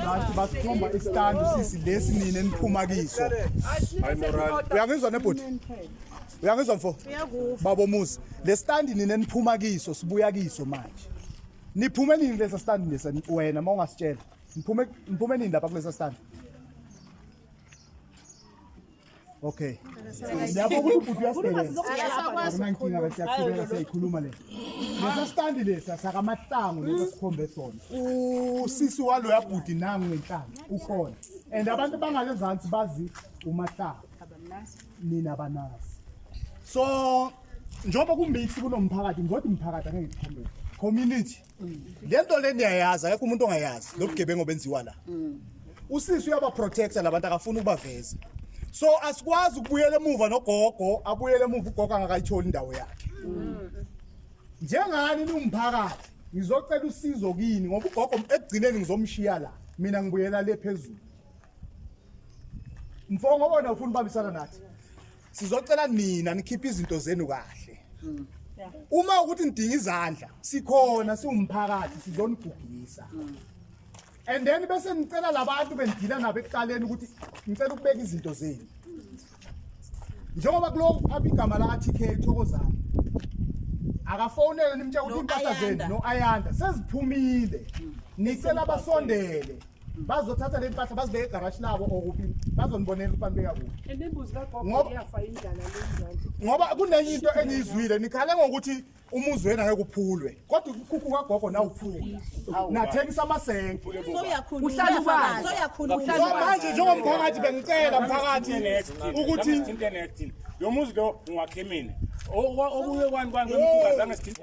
bathi basikhomba isikandi sisi lesi nini eniphuma kiso uyangizwa nebhuti uyangizwa mfo babo muzi le standi nini eniphuma kiso sibuya kiso manje niphume nini kulesa standi lesa wena uma ungasitshela niphume nini lapha kulesa standi Okay. Lapho ukuthi ubhuti uyasebenza. Akunankinga bese siyakhuluma siyayikhuluma le. Lesa stand lesa sakamahlangu lesa sikhombe sona. Usisi walo yabhuti nangu ngenhlanga ukhona. And abantu bangale zansi bazi umahlangu. Nina banazi. So njengoba kumix kunomphakathi ngodi umphakathi angeke ngikhombele. Community le nto le niyayazi akekho umuntu ongayazi lo bugebengu obenziwa la usisi uyabaprotecta labantu akafuni ukubaveza so asikwazi ukubuyela emuva nogogo abuyele emuva ugogo angakayitholi indawo yakhe njengani niwumphakathi ngizocela usizo kini ngoba ugogo ekugcineni ngizomshiya la mina ngibuyela le phezulu mfongo wona ufuna ubambisana nathi sizocela nina nikhiphe izinto zenu kahle mm. uma ukuthi nidinga izandla sikhona siwumphakathi sizonigugisa mm. and then bese nicela labantu bendila nabo ekuqaleni ukuthi ngicela ukubeka izinto zenu njengoba kuloku phapha igama laka-tk thokozana akafonele nimtshela ukuthi impahla zenu no-ayanda seziphumile nicela basondele bazothatha le mpahla bazibeke egarashi labo okuphi bazonibonela ukuthi banibeka kuphi And imbuzi kagogo Ngoba- iyafa indlala le mzansi. ngoba kunenye into engiyizwile nikhale ngokuthi umuzi wenu angeke uphulwe kodwa ukukhukhu kagogo nawuphula nathengisa amasenke Soyakhuluma. Uhlala ubani? Soyakhuluma. so manje njengomphakathi bengicela mphakathi ukuthi Ukuthi internet. Lo muzi lo ngwakhemini. Okuye kwani kwani kwemkhuba zange sithinte.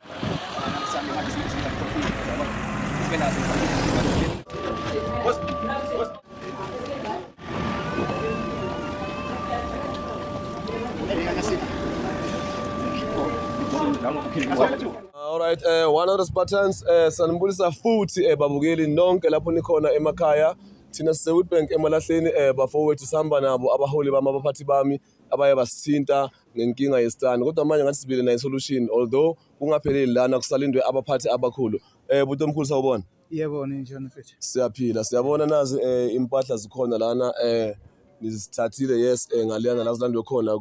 Alright, eh one of the Spartans eh sanibulisa futhi eh babukeli nonke lapho nikhona emakhaya thina siseWitbank emalahleni eh bafowethu sihamba nabo abaholi bami abaphathi bami abaye basithinta ngenkinga yesitani kodwa manje ngathi sibile nayo solution although kungapheleli lana kusalindwe abaphathi abakhulu eh buti omkhulu sawubona yebo ninjani mfethu siyaphila siyabona nazi eh impahla zikhona lana eh nizithathile yes eh ngaliyana la zilandwe khona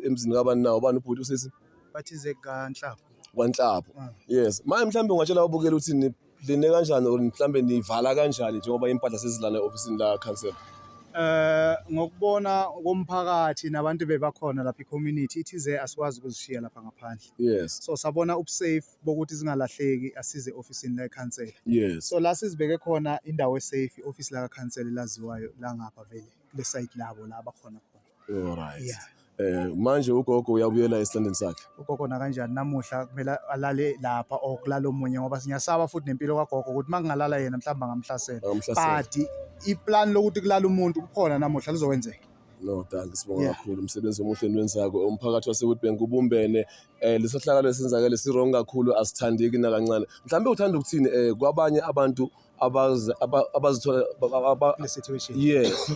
emzini kabani nawo bani ubhuti usisi bathi zekanhlapho kwanhlapho ah. yes manje mhlawumbe ungatshela ubukela ukuthi Line kanjani or mhlambe nivala kanjani njengoba impahla sezilana e-ofisini la council? Eh ngokubona komphakathi nabantu bebakhona lapha i-community ithi ze asikwazi ukuzishiya lapha ngaphandle. Yes. So sabona ubusafe bokuthi zingalahleki asize ofisini la eCouncil. Yes. So la sizibeke khona indawo esafe office la kaCouncil elaziwayo la ngapha vele kule site labo la abakhona khona. Alright. Yeah. Eh manje ugogo uyabuyela esithandeni sakhe. ugogo nakanjani namuhla kumele alale lapha or kulala omunye ngoba siyasaba futhi nempilo kagogo ukuthi makungalala yena mhlawumbe angamhlasela Angamhlasela. but iplan lokuthi kulala umuntu kukhona namuhla lizokwenzeka No, danke sibonga Yeah. kakhulu umsebenzi omuhle niwenzako umphakathi waseWitbank ubumbene eh lesohlakalo esenzakele siwrong kakhulu asithandeki nakancane mhlawumbe uthanda ukuthini eh kwabanye abantu abazi- aba- abazithola aba- aba- aba- le situation yes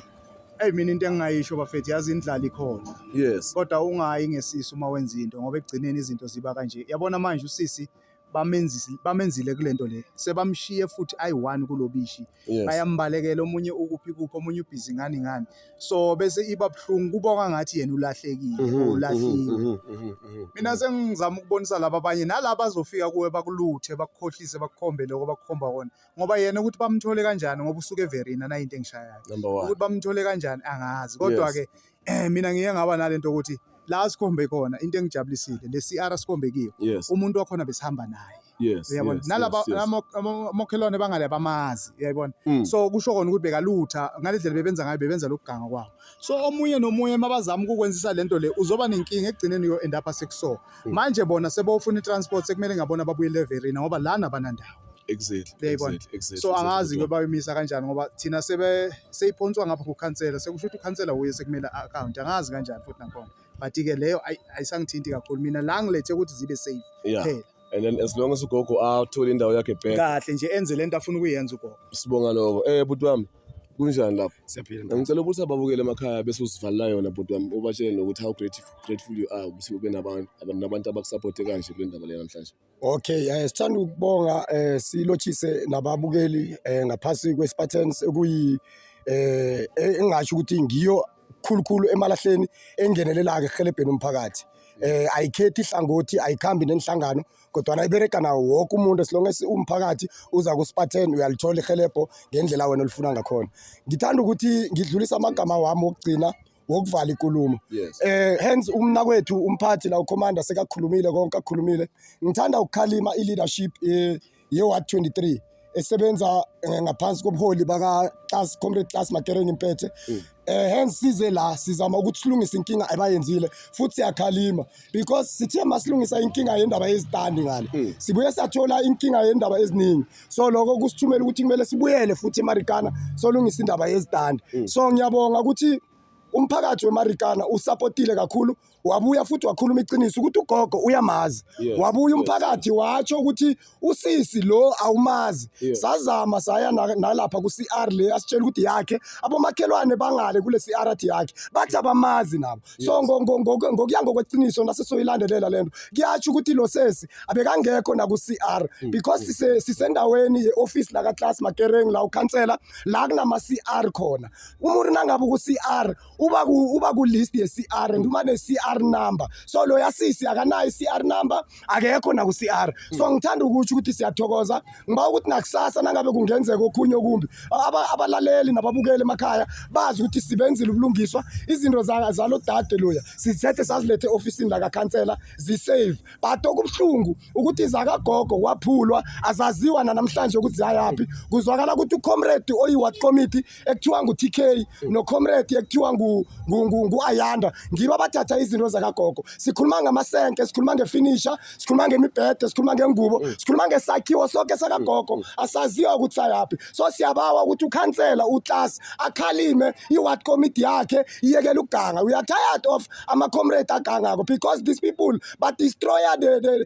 eyi mina into engingayisho bafethu yazi indlala ikhona yes kodwa ungayi ngesisu uma wenza into ngoba ekugcineni izinto ziba kanje yabona manje usisi bamenzisi- bamenzile kule nto le sebamshiye futhi ayi-one kulo bishi yes bayambalekela omunye ukuphi kuphi omunye ubhizi ngani ngani so bese iba buhlungu kubonga ngathi yena ulahlekile Mhm, or mhm, ulahliwe mhm, mhm, mhm. mina sengizama ukubonisa laba abanye nalaba azofika kuwe bakuluthe bakukhohlise bakukhombe lokho bakukhomba kona ngoba yena ukuthi bamthole kanjani ngoba usuke everina nayo into engishayayo number one ukuthi bamthole kanjani angazi kodwa-ke eh, mina ngiye ngaba nalento ukuthi la sikhombe khona into engijabulisile le CR sikhombe kiyo yes. umuntu wakhona besihamba naye yes, uyabona yes, nalaba yes, yes. mokhelwane bangale bamazi uyayibona mm. so kusho kona ukuthi bekalutha ngale ndlela bebenza ngayo bebenza lokuganga kwabo so omunye nomunye mabazama ukukwenzisa lento le uzoba nenkinga ekugcineni yo end up sekuso mm. manje bona sebofuna i-transport sekumele ngabona babuyele everina ngoba lana banandawo exactly Uyayibona? exactly exactly so exactly, angazi kodwa. ke bayomisa kanjani ngoba thina sebe seyiphonswa ngapha kukhansela sekusho ukuthi ukhansela wuye sekumele account angazi kanjani futhi nakhona but ke leyo ayi- ayisangithinti kakhulu mina la ngilethe ukuthi zibe safe yeah phela and then as long as ugogo athole indawo yakhe back kahle nje enze lento afuna ukuyenza ugogo sibonga lokho eh bhuti wami kunjani lapho siyaphila mfethu. ngicela ukuthi ababukele emakhaya bese usivalela yona bhuti wami ubatshele nokuthi how grateful, grateful you are ukuthi ube nabantu abantu abakusapothe kanje kule ndaba le namhlanje Okay, eh sithanda ukubonga eh silochise nababukeli eh ngaphasi kweSpartans okuyi eh engasho ukuthi ngiyo khulukhulu emalahleni engenelelaka ehelebheni umphakathi eh ayikhethi ihlangothi ayikhambi nenhlangano kodwa ayibereka nawo wonke umuntu esilonge umphakathi uza kuSpartan uyalithola ihelebho ngendlela wena olifuna ngakhona ngithanda ukuthi ngidlulisa amagama wami okugcina wokuvala ikulumo yes. eh hence umnakwethu umphathi la ucommander sekakhulumile konke akhulumile ngithanda ukukhalima i-leadership eh, ye-ward 23 esebenza eh, ngaphansi kobuholi baka-class comrade class makereng impethe mm. eh hence size la sizama ukuthi silungise inkinga abayenzile futhi siyakhalima because sithe masilungisa inkinga yendaba yezitandi ngale mm. sibuye sathola inkinga yendaba eziningi so lokho kusithumela ukuthi kumele sibuyele futhi emarikana solungisa indaba yezitandi mm. so ngiyabonga ukuthi umphakathi wemarikana usapotile kakhulu wabuya futhi wakhuluma iqiniso ukuthi ugogo uyamazi yes, wabuya umphakathi yes. watsho ukuthi usisi lo awumazi yes. sazama saya nalapha ku-cr le asitshela ukuthi yakhe abomakhelwane bangale kule-cr athi yakhe bathi abamazi nabo so ngo- ngo- ngo- ngokuya ngokweqiniso nasesoyilandelela le nto kuyatsho ukuthi lo sesi abekangekho naku-c r Mm, because sise- sisendaweni ye-ofisi lakaclass makereng la ukhansela la kunama-c r khona umuntu nangabe uku-c r uba ku- uba ku-list ye-c r and uma ne-c r number so lo yasisi akanayo i-c r number akekho naku-cr so hmm. ngithanda ukutsho ukuthi siyathokoza ngiba ukuthi nakusasa nangabe kungenzeka okhunye okumbi abalaleli nababukeli emakhaya bazi ukuthi sibenzile ubulungiswa izinto zalo dade loya sizethe sazilethe e-ofisini lakakhansela zisave but okubuhlungu ukuthi zakagogo waphulwa azaziwa nanamhlanje ukuthi ziyayaphi kuzwakala ukuthi ucomrade oyi-wat committee ekuthiwa ngu-tk nocomrade ekuthiwa ngu-ayanda ngibo abathatha izinto zakagogo sikhuluma ngamasenke sikhuluma ngefinisha sikhuluma ngemibhede sikhuluma ngengubo mm. sikhuluma ngesakhiwo soke sakagogo mm. mm. asaziwa ukuthi sayaphi so siyabawa ukuthi ukhansela uclass akhalime i-ward committee yakhe iyekela ukuganga we are tired of ama-comrade agangako because these people badestroya the, the,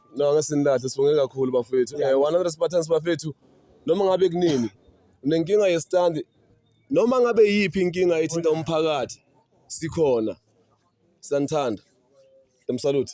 No, ngeke sinilahle sibonge kakhulu bafethu. Eh 100 Spartans bafethu. Noma ngabe kunini unenkinga yestand noma ngabe yiphi inkinga ethinta umphakathi sikhona. Sanithanda. Dem salute.